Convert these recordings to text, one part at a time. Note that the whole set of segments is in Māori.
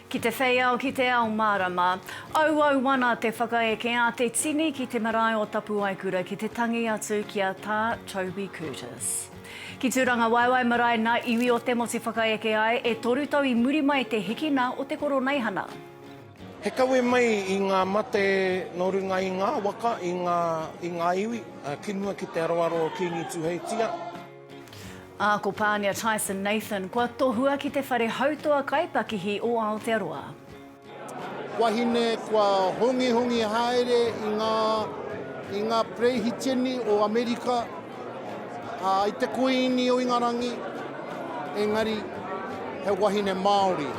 Ki te whei ao, ki te ao mārama. Auau wana te whakaeke a te tini ki te marae o Tapuwaekura ki te tangi atu ki a Tā Toby Curtis. Ki Tūrangawaewae marae nā iwi o te motu whakaeke ai e toru tau i muri mai te hikina o te koroneihana. He kawe mai i ngā mate nō runga i ngā waka, i ngā, i ngā iwi, ki mua ki te aroaro o Kīngi Tuheitia. Ā, ko Pānia Tyson Nathan kua tohua ki te whare hautoa kaipakihi o Aotearoa. Wahine kua hongihongi haere i ngā, i ngā Perehiteni o Amerika, ā, i te Kuīni o Ingarangi, engari he wahine Māori.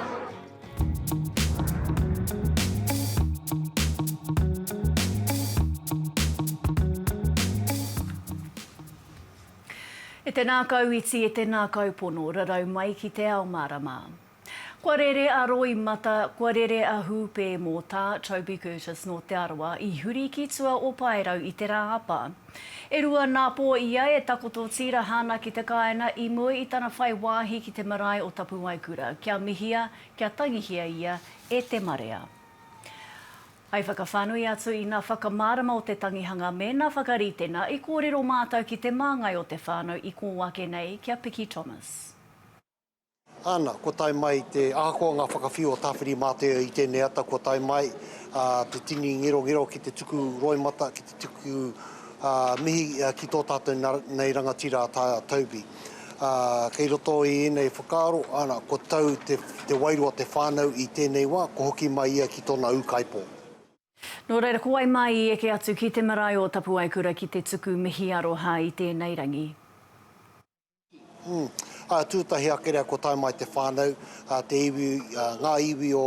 E te nākau iti, e te nākau pono, rarau mai ki te ao mārama. Kua rere a Roy Mata, kua rere a Hūpē mō tā Toby Curtis nō Te Arawa i huri ki tua o Paerau i te Rāapa. E rua nā pō ia e takoto tīraha ana ki te kāina i mua i tana whai wāhi ki te marae o Tapuwaekura, kia mihia, kia tangihia ia e te marea. Hai whakawhānui atu i nā whakamārama o te tangihanga me nā whakaritenga i kōrero mātau ki te māngai o te whānau i kō ake nei ki a Piki Thomas. Ana, kua tae mai te, ahakoa ngā whakawhiu o Tāwhiri-mātea i tēnei ata, kua tae mai te tini ngerongero ki te tuku roimata, ki te tuku mihi ki tō tātou nei rangatira a Toby. Kei roto i ēnei whakaaro, ana, kua tau te wairua te whānau i tēnei wā, kua hoki mai ia ki tōna ūkaipō. Nō reira, ko wai mā i eke atu ki te marae o Tapuwaekura ki te tuku mihi aroha i tēnei rangi? Ā, tūtahi ake rea kua tae mai te whānau, ā, te iwi, ā, ngā iwi o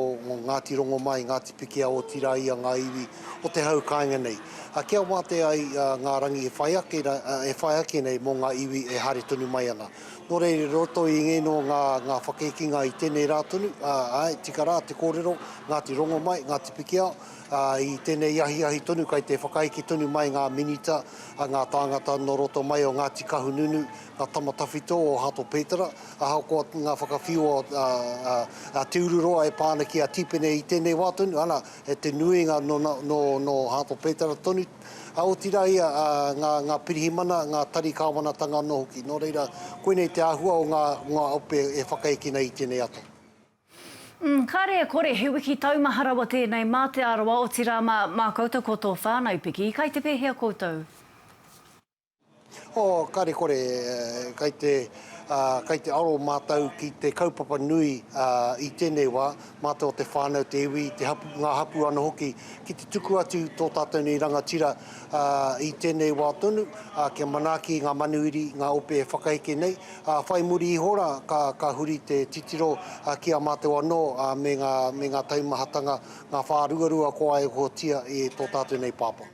Ngāti Rongomai, Ngāti Pikiao, otirā ia ngā iwi o te hau kāinga nei. Ā, kia wātea ai ngā rangi e whai ake, e whai ake nei mō ngā iwi e haere tonu mai ana. Nō reira, i roto i ngēnō ngā, ngā whakēkinga i tēnei rā tonu, ā, āe, tika rā te kōrero, Ngāti Rongomai, Ngāti Pikiao, ā, i tēnei ahiahi tonu kai te whakaeke tonu mai ngā minita, a ngā tāngata nō roto mai o Ngāti Kahununu, ngā tama tawhito o Hato Pētara, ahakoa ngā whakawhiua a Te Ururoa e pā ana ki a Tīpene i tēnei wā tonu, ana, he te nuinga nō Hato Pētara tonu, otirā ia ngā pirihimana, ngā tari kāwanatanga anō hoki. Nō reira, koinei te āhua o ngā ope e whakaekina i tēnei ata. Umm, kāre e kore, he wiki taumaha rawa tēnei mā Te Arawa, otirā mā, mā koutou ko tō whānau piki, kai te pēhea koutou? Oh, kāre kore, kai te, ah, kai te aro mātou ki te kaupapa nui, ah, i tēnei wā, mātou te whānau, te iwi, te hap, ngā hapū anō hoki, ki te tuku atu tō tātou nei rangatira, ah, i tēnei wā tonu, ah, kia manaaki ngā manuiri, ngā ope e whakaheke nei, Ā, whai muri iho rā, ka, ka huri te titiro ki a mātou anō me ngā, me ngā taumahatanga, ngā whāruarua kua waihotia e tō tātou nei Pāpā.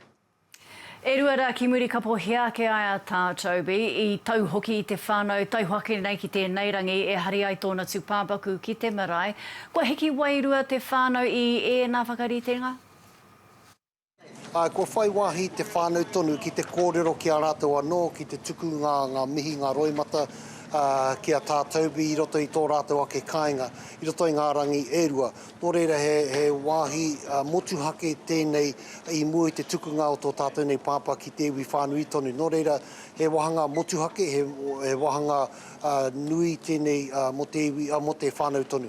E rua rā ki muri ka pōhia ake ai a Tā Toby, i tau hoki i te whānau, tae hoki nei ki tēnei rangi e hari ai tōna tūpāpaku ki te marae. Kua hiki wairua te whānau i ēnā whakaritenga? Āe, kua whai wāhi te whānau tonu ki te kōrero ki a rātou anō, ki te tuku ngā, ngā mihi, ngā roimata, ā, ki a tātou i roto i tō rātou ake kāinga, i roto i ngā rangi e rua. Nō reira, he, he wāhi motuhake tēnei i mua i te tukunga o tō tātou nei pāpā ki te iwi whānui tonu. Nō reira, he wāhanga motuhake, he, he wāhanga, ā, nui tēnei, ā, mō te iwi, ā, mō te whānau tonu.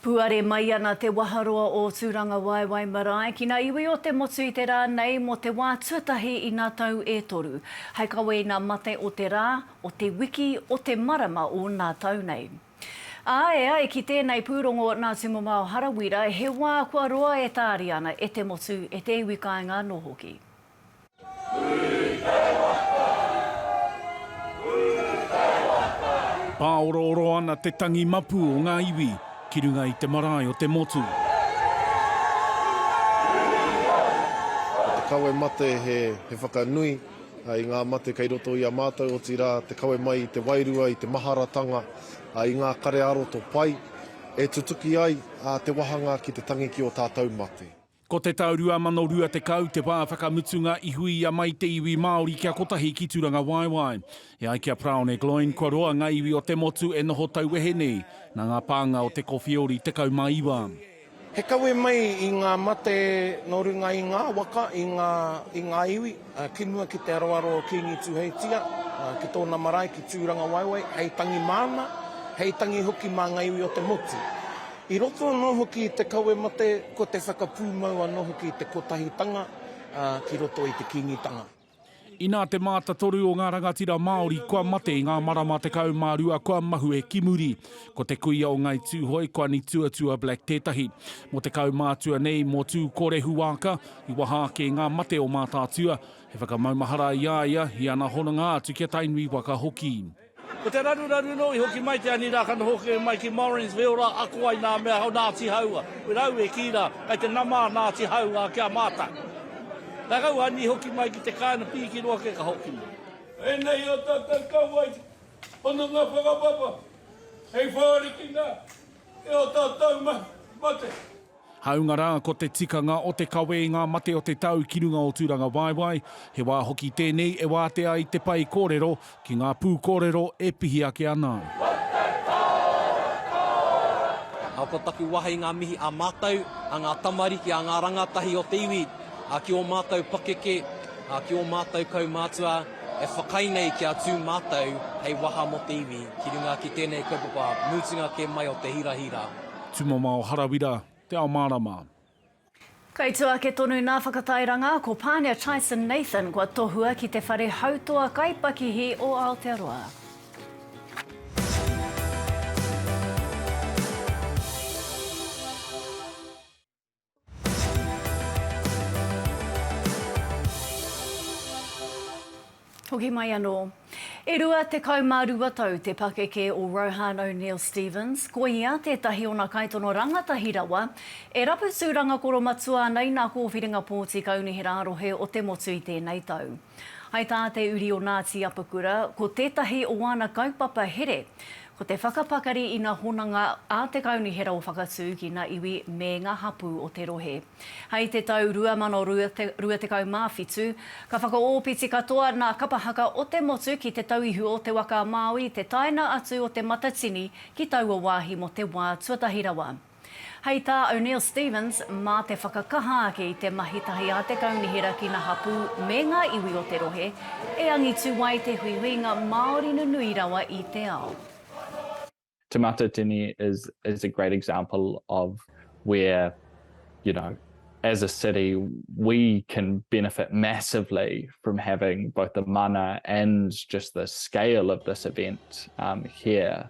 Puare mai ana te waharoa o Tūrangawaewae marae ki ngā iwi o te motu i te rā nei mō te wā tuatahi i ngā tau e toru. Hai kawe i ngā mate o te rā, o te wiki, o te marama o nā tau nei. Ā, e ai ki tēnei pūrongo nā Tumamao Harawira, he wā kua roa e tāria ana e te motu, e te iwi kāinga anō hoki. Pāorooro ana te tangi mapu o ngā iwi ki runga i te marae o te motu. Ko te kawe mate he whakanui i ngā mate kei roto i a mātou, otirā te kawe mai i te wairua, i te maharatanga, i ngā kare ā-roto pai, e tutuki ai te wahanga ki te tangi ki ō tātou mate. Ko te tau 2020 te wā whakamutunga i huia mai te iwi Māori kia kotahi ki Turangawaewae. E ai ki a Praone Gloyne kua roa ngā iwi o te motu e noho tauwehe nei, nā ngā pānga o te Kowheori 19. He kawe mai i ngā mate nō runga i ngā waka, i ngā iwi. Ki mua ki te aroaro o Kīngi Tūheitia, ki tōna marae ki Tūrangawaewae, hei tangi māna, hei tangi hoki mā ngā iwi o te motu. I roto anō hoki i te kawe mate, ko te whakapūmau anō hoki i te kotahitanga ki roto i te Kīngitanga. Inā te mātatoru o ngā rangatira Māori kua mate i ngā marama tekau mā rua kua mahue ki muri. Ko te kuia o Ngāi Tūhoe, Kuani Tuatua Black tētahi. Mō te kaumātua nei, mō Tūkorehuāka, I waha ake i ngā mate o Mātaatua, he whakamaumahara i a ia, i ana hononga atu ki a Tainui waka hoki. Ko te raruraru nō i hoki mai te ani rā ka noho hoki mai ki Morins wheo rā ako ai nā mea o Ngāti Hauā. Ko rāua e kī rā, kei te nama a Ngāti Hauā ki a mātou. Ka kau ani hoki mai ki te kāinga pīki noa kē ka hoki mai. Ēnei o tātou kauae hononga whakapapa hei whārikina i ō tātou mate. Hāunga rā, ko te tikanga o te kawe i ngā mate o te tau ki runga o Tūrangawaewae, he wā hoki tēnei e wātea ai te pae kōrero ki ngā pūkōrero e pihi ake ana ai. Ā, ko taku waha i ngā mihi a mātou, a ngā tamariki, a ngā rangatahi o te iwi, ā, ki ō mātou pakeke, ā, ki ō mātou kaumātua e whakaae nei kia tū mātou hei waha mō te iwi ki runga ki tēnei kaupapa mutunga kē mai o te hirahira. Tumamao Harawira, Te Ao Mārama. Kei tua ake tonu nā Whakatairanga, ko Pānia Tyson Nathan kua tohua ki te whare hautoa kaipakihi o Aotearoa. Hoki mai anō. E rua tekau mā rua tau te pakeke o Rohan O'Neill Stephens, ko ia tētahi ona kaitono rangatahi rawa e rapu tūranga koromatua ana i nā kōwhiringa pōti kaunihera rohe o te motu i tēnei tau. Hai tā te uri o Ngāti Apakura, ko tētahi o āna kaupapa here, ko te whakapakari i ngā honanga a te Kaunihera o Whakatū ki ngā iwi me ngā hapū o te rohe. Hai te tau 2027, ka whakaōpiti katoa ngā kapa haka o te motu ki te tauihu o te waka a Māui i te taenga atu o Te Matatini ki taua wāhi mō te wā tuatahi rawa. Hei tā O'Neill Stephens, mā te whakakaha ake i te mahi tahi a te kaunihera ki ngā hapū me ngā iwi o te rohe, e angitu ai te huihuinga Māori nunui rawa i te ao. Te Matatini is is a great example of where you know as a city we can benefit massively from having both the mana and just the scale of this event here.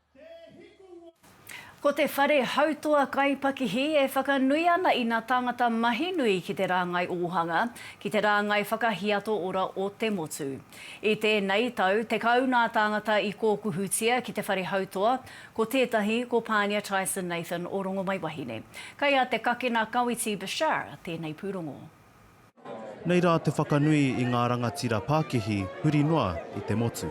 Ko te whare hautoa kaipakihi e whakanui ana i nā tāngata mahi nui ki te rāngai ōhanga, ki te rāngai whakahiato ora o te motu. I tēnei tau, tekau nā tāngata i kōkuhutia ki te whare hautoa, ko tētahi ko Pānia Tyson Nathan o Rongomaiwahine. Kei a Te Kakena Kawiti Bashar tēnei pūrongo. Nei rā te whakanui i ngā rangatira pākihi huri noa i te motu.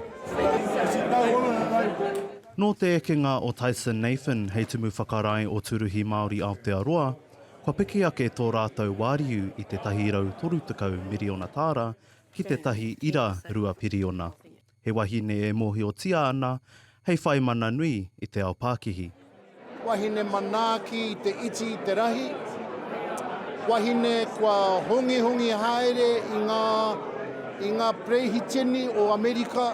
Nō te ekenga o Tyson Nathan hei Tumu Whakarae o Tūruhi Māori Aotearoa, kua piki ake tō rātou wāriu i te 130 miriona tāra ki te tahi ira rua piriona. he wahine e mōhiotia ana hei whai mana nui i te ao pākihi. Wahine manaaki i te iti i te rahi, wahine kua hongihongi haere i ngā, i ngā Perehiteni o Amerika,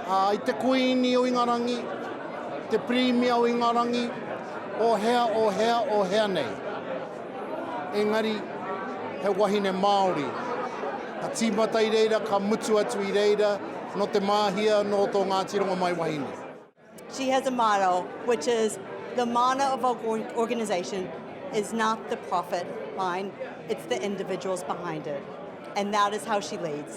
ā, i te Kuini o Ingarangi, te Pirimia o Ingarangi, o hea, o hea, o hea nei. engari he wahine Māori. Ka tīmata i reira, ka mutu atu i reira, nō Te Māhia, nō tō Ngāti Rongomai wahine. She has a motto which is the mana of our organisation is not the profit line, it's the individuals behind it. And that is how she leads.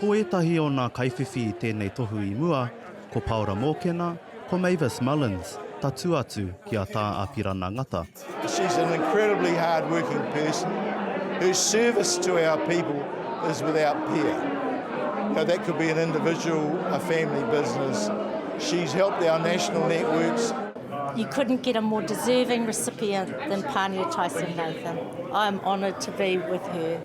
Ko ētahi o nā kaiwhiwhi i tēnei tohu i mua, ko Paora Mōkena, ko Mavis Mullins, tatū atu ki a Tā Apirana Ngata. She's an incredibly hard working person whose service to our people is without peer. That could be an individual, a family business. She's helped our national networks. You couldn't get a more deserving recipient than Pania Tyson-Nathan. I am honoured to be with her.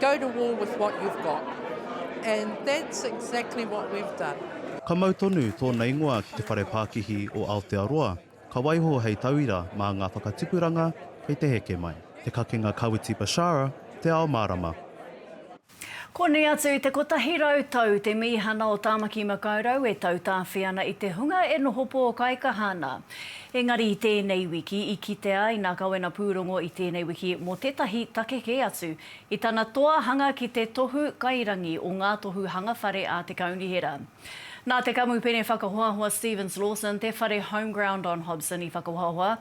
Go to war with what you've got. And that's exactly what we've done. Ka mau tonu tōna ingoa ki te Whare Pākihi o Aotearoa, ka waiho hei tauira mā ngā whakatipuranga kei te heke mai. Te kakenga Kawiti Bashara, Te Ao Mārama. Konei atu i te kotahi rau tau te mīhana o Tāmaki Makaurau e tautāwhi ana i te hunga e noho pōkaikaha ana. Engari i tēnei wiki i kitea ai nā Kawena pūrongo i tēnei wiki mō tētahi take kē atu i tana toa hanga ki te tohu kairangi o ngā tohu hanga whare a te Kaunihera. Nā te Kamupene Whakahoahoa Stevens Lawson te whare Homeground on Hobson i whakahoahoa.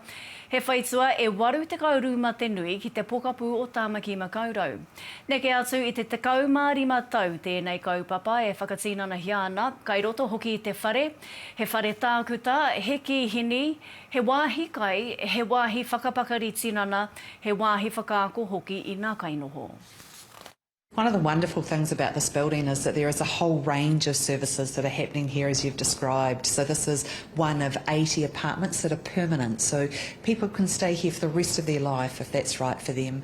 He whaitua e 82 te nui ki te pokapū o Tāmaki Makaurau. Neke atu i te 15 tau tēnei kaupapa e whakatinanahia ana, kai roto hoki i te whare, He whare tākuta, he kīhini, he wāhi kai, he wāhi whakapakari tinana, he wāhi whakaako hoki i nā kainoho. One of the wonderful things about this building is that there is a whole range of services that are happening here as you've described. So this is one of 80 apartments that are permanent, so people can stay here for the rest of their life if that's right for them.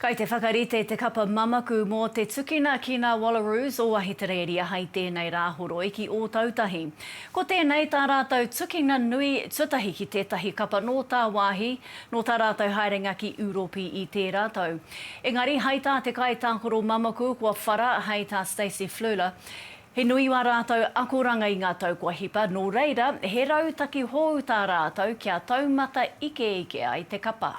Kai te whakarite te kapa mamaku mō te tukina ki ngā Wallaroos o Ahitereiria hai tēnei Rāhoroi ki Ōtautahi. Ko tēnei tā rātou tukina nui tuatahi ki tētahi kapa nō tāwāhi, nō tā rātou haerenga ki Ūropi i tērā tau. Engari hai tā te kaitākaro mamaku kua whara hai tā Stacey Fluhler, he nui ā rātou akoranga i ngā tau kua hipa, nō reira, he rautaki hou tā rātou kia taumata ikeike ai te kapa.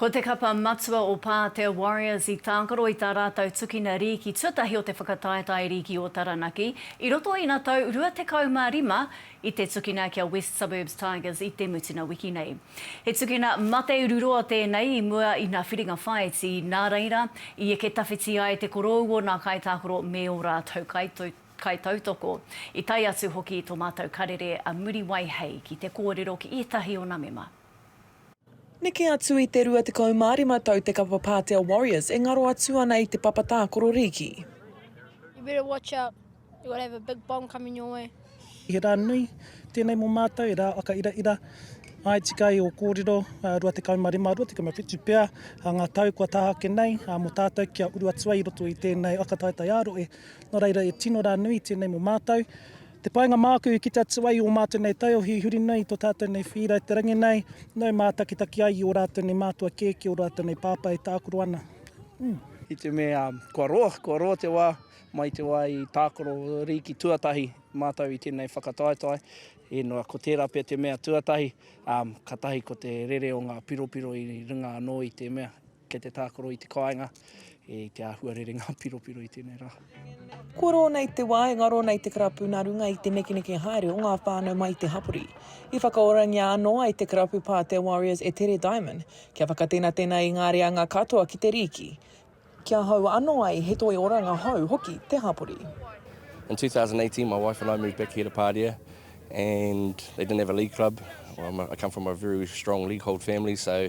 Ko te kapa matua o Pātea Warriors i tākaro i tā rātou tukina rīki tuatahi o te whakataetae rīki o Taranaki i roto ina tau 25 i te tukina ki a West Suburbs Tigers i te mutunga wiki nei. He tukina mate ururoa tēnei i mua i nā whiringa whāiti, nā reira, i eke tawhiti ai te korou o nā kaitākaro me ō rātou kaitautoko, i tae atu hoki i tō mātou karere a Muriwai Hei ki te kōrero ki ētahi o nā mema. Neke atu i te 25 tau te kapa Pātea Warriors e ngaro atu ana i te papa tākoro rīki. You better watch out, you could have a big bomb coming your way. He rā nui tēnei mō mātou, he rā whakairaira. Āe tika ai ō kōrero, 25, 27 pea ngā tau kua taha ake nei mō tātou kia uru atu ai i roto i tēnei whakataetae ā-rohe. Nō reira, e tino rā nui tēnei mō mātou. Te painga māku ki te atu-a-i o mātou nei taiohi i huri nei i to tātou nei whīra i te rangi nei, nau mātakitaki ai i o rātou nei mātua kēkē, o rātou nei pāpā e tākaro ana. Umm. I te mea kua roa, kua roa te wā, mai te wā i tākaro rīki tuatahi mātou i tēnei whakataetae, inua ko tērā pea te mea tuatahi, umm, katahi ko te rere o ngā piropiro i runga anō i te mea, Kei te tākaro i te kāinga, i te āhua rere ngā piropiro i tēnei rā. Kua rō nei te wā e ngaro nei te karapu nā runga i te nekeneke haere o ngā whānau mai i te hapori. I whakaorangia anō ai te karapu Pātea Warriors e Tere Diamond kia whakatenatena i ngā reanga katoa ki te rīki, kia hou anō ai he toi oranga hou hoki te hapori. In 2018, my wife and I moved back here to Pāria, and they didn't have a league club. Well, a, I come from a very strong league hold family, so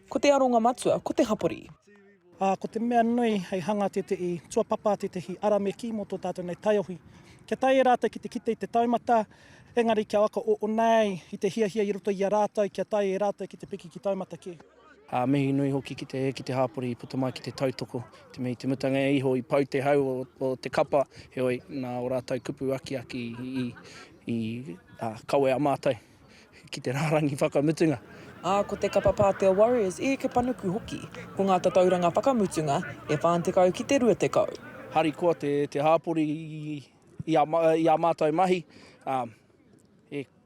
Ko te aronga matua ko te hapori. Ā, ko te mea nui hei hanga tētehi tuapapa, tētehi arameki mō tō tātou nei taiohi. Kia tae e rātou ki te kite i te taumata, engari kia waka o nāi i te hiahia i roto i a rātou kia tae e rātou ki te piki ki taumata kē. Ā, mihi nui hoki ki te ki te hapori i puta mai ki te tautoko, te mea i te mutunga iho i pau te hau o te kapa, heoi, nā ō rātou kupu akiaki i kawea mātou. ki te rārangi whakamutunga. Ā, ko te kapa Pātea Warriors i eke panuku hoki. Ko ngā tatauranga whakamutunga, e 40 ki te 20. Harikoa te hāpori i ā mātou mahi,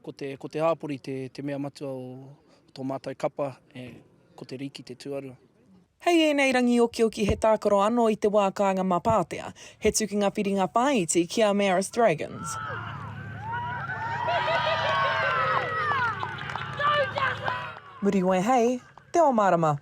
ko te hāpori te mea matua o tō mātou kapa, ko te rīki te tuarua. Hei ēnei rangi okioki he tākaro anō i te wā kāinga mā Pātea. He tukinga whiringa whāiti ki a Marist Dragons. Muriwai Hei te ao mārama.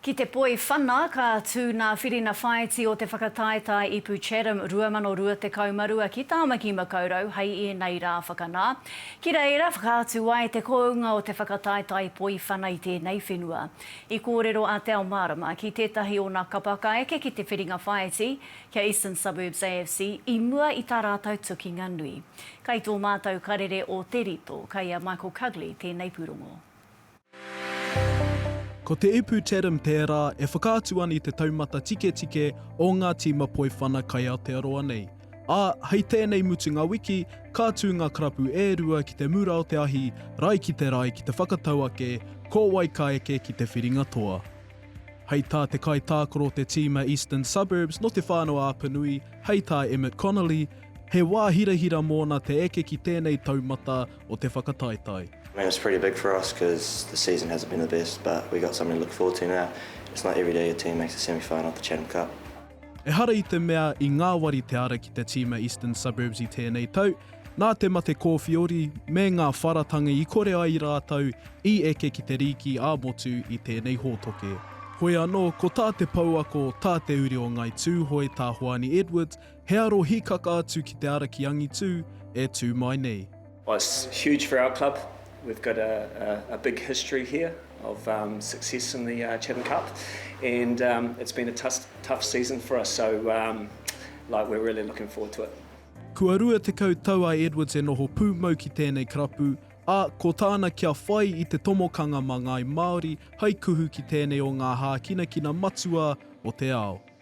Ki te poi whana, ka tū nā Whirina Whāiti o Te Whakataetae Ipu Chatham 2022 ki Tāmaki Makaurau hei ēnei rā whakanā. Ki reira, whakaatu ai te kounga o te whakataetae poiwhana i tēnei whenua. I kōrero a Te Ao Mārama ki tētahi o nā kapa ka eke ki te whiringa whāiti, kia Eastern Suburbs AFC, i mua i tā rātau tukinga nui. Kai tō mātau karere o Te Rito, kai a Michael Cugley tēnei pūrongo. Ko te ipu Tedim tērā e whakaatu an i te taumata tiketike o ngā tīma poiwhana kai Aotearoa nei. Ā, hei tēnei mutunga wiki, ka tū ngā karapu e rua ki te mura o te ahi, rae ki te rae ki te whakatau ake ko wai ka eke ki te whiringa toa. Hei tā te kaitākaro o te tīma Eastern Suburbs nō Te Whānau-a-Apanui, hei tā Emmett Connolly, he wā hirahira mōna te eke ki tēnei taumata, o te whakataetae. I mean it's pretty big for us cause the season hasn't been the best but we got something to look forward to now, it's not everyday your team makes the semi final of the Chatham Cup. Ehara i te mea i ngāwari te ara ki te tīma Eastern Suburbs i tēnei tau, nā te mate kōwhiori me ngā wharatanga i kore ai rātou i eke ki te rīki ā-motu i tēnei hōtoke. Hoi anō, ko tā te pouako, tā te uri o Ngāi Tūhoe, tā Hoani Edwards, He aro hikaka atu ki te ara ki angitu e tu mai nei. Well it's huge for our club, we've got a big history here of success in the Chatham Cup and it's been a tough season for us so like we're really looking forward to it. Kua rua tekau tau a Edwards e noho pūmau ki tēnei karapu, ā, ko tāna kia whai i te tomokanga mā ngāi Māori hai kuhu ki tēnei o ngā hākinakina matua o te ao.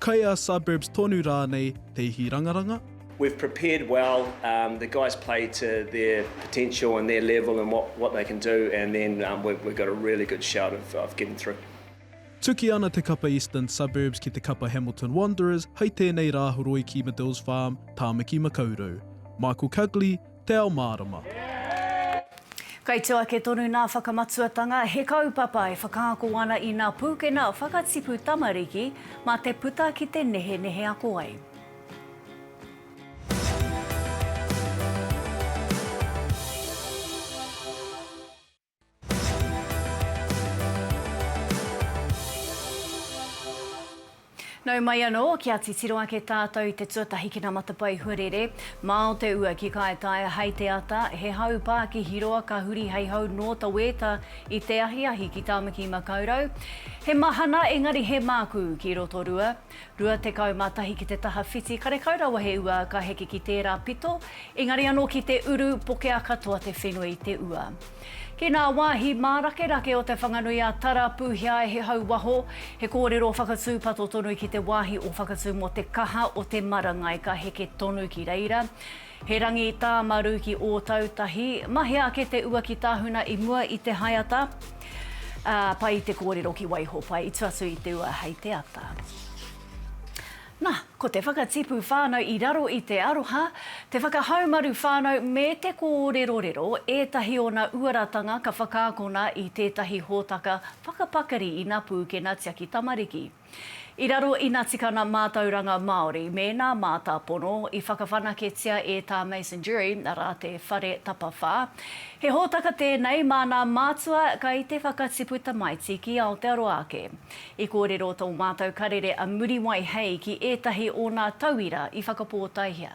Kai a Suburbs tonu rānei te ihi rangaranga? We've prepared well, the guys play to their potential and their level and what they can do and then we've got a really good shout of getting through. Tuki ana te kapa Eastern Suburbs ki te kapa Hamilton Wanderers hei tēnei rā horoiki Medills Farm, Tāmaki Makaurau. Michael Cugley, Te Ao Mārama. Kai tō ake tonu nā Whakamatuatanga, he kaupapa e whakaako ana i nā pūkena whakatipu tamariki mā te puta ki te nehenehe ako ai. Nau mai anō, kia titiro ake tātou i te tuatahi ki ngā matapae huarere. Māo te ua ki Kaitaia hei te ata, he hau pā ki Hiroa ka huri hei hau nō Taweta i te ahiahi ki Tāmaki-i-makaurau. He mahana engari he mākū ki Rotorua. Rua tekau ma tahi ki te taha whiti karekau rawa he ua ka heke ki tera pito engari ano ki te uru pokea katoa te whenua i te ua. Ki na wahi marakerake o Te Whanganui a Tara puhia ai he hau waho, he korero whakatupato tonu ki te wahi o whakatu mo te kaha o te marangai ka heke tonu ki reira. He rangi tā Maru ki Ōtautahi. Mahea ake te ua ki Tahuna i mua i te haeata. Ā, pai te kōrero ki Waiho, pai i tua atu i te ua hei te ata. Nā, ko te whakatipu whānau i raro i te aroha, te whakahaumaru whānau me te kōrerorero, ētahi ōna uaratanga ka whakaakona i tētahi hōtaka whakapakari ina pūkena tiaki tamariki. I raro i na tikana mātauranga Māori me nā mātāpono i whakawhanaketia e tā Mason Durie rā te whare tapawhā. He hōtaka tēnei mā nā mātua kai te whakatipu tamaiti ki Aotearoa ake. I kōrero tō mātou karere a Muriwai Hei ki ētahi o nā tauira i whakapōtaihia.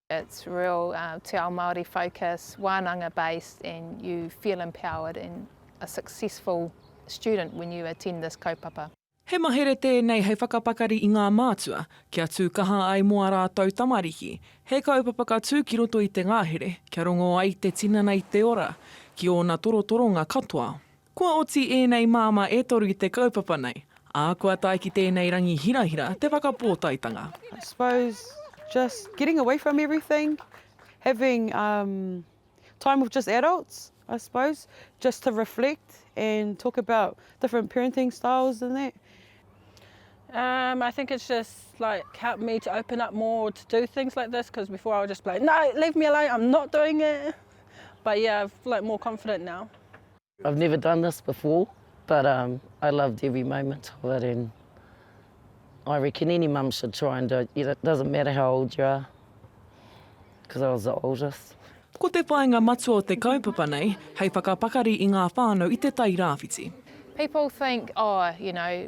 It's real Te Ao Māori focus, wānanga based and you feel empowered and a successful student when you attend this kaupapa. He mahere tēnei hei whakapakari i ngā mātua, kia tū kaha ai mō a rātou tamariki. He kaupapa ka tū ki roto i te ngahere, kia rongo ai te tinana i te ora, ki ōna torotoronga katoa. Kua oti ēnei māmā e toru i te kaupapa nei, ā, kua tae ki tēnei rangi hirahira te whakapōtaetanga. I suppose just getting away from everything, having time with just adults I suppose, just to reflect and talk about different parenting styles and that. Umm I think it's just like helped me to open up more to do things like this because before I would just be like no leave me alone I'm not doing it but yeah I've like more confident now. I've never done this before but um I loved every moment of it and I reckon any mum should try and do it, it doesn't matter how old you are because I was the oldest. Ko te whāinga matua o te kaupapa nei, hei whakapakari i ngā whānau i Te Tai Rāwhiti. People think, oh, you know,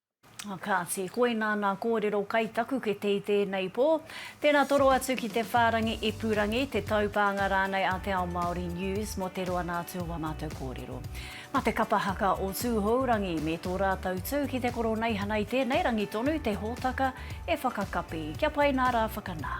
Kāti, koinā nā kōrero kai taku kete i tēnei pō. Tēnā toro atu ki te whārangi ipurangi, te taupānga rānei a Te Ao Māori News mō te roa nā atu o ā mātou kōrero. Mā te kapa haka o Tūhourangi me tō rātou tū ki te koroneihana i tēnei rangi tonu te hōtaka e whakakapi. Kia pai nā rā whakanā.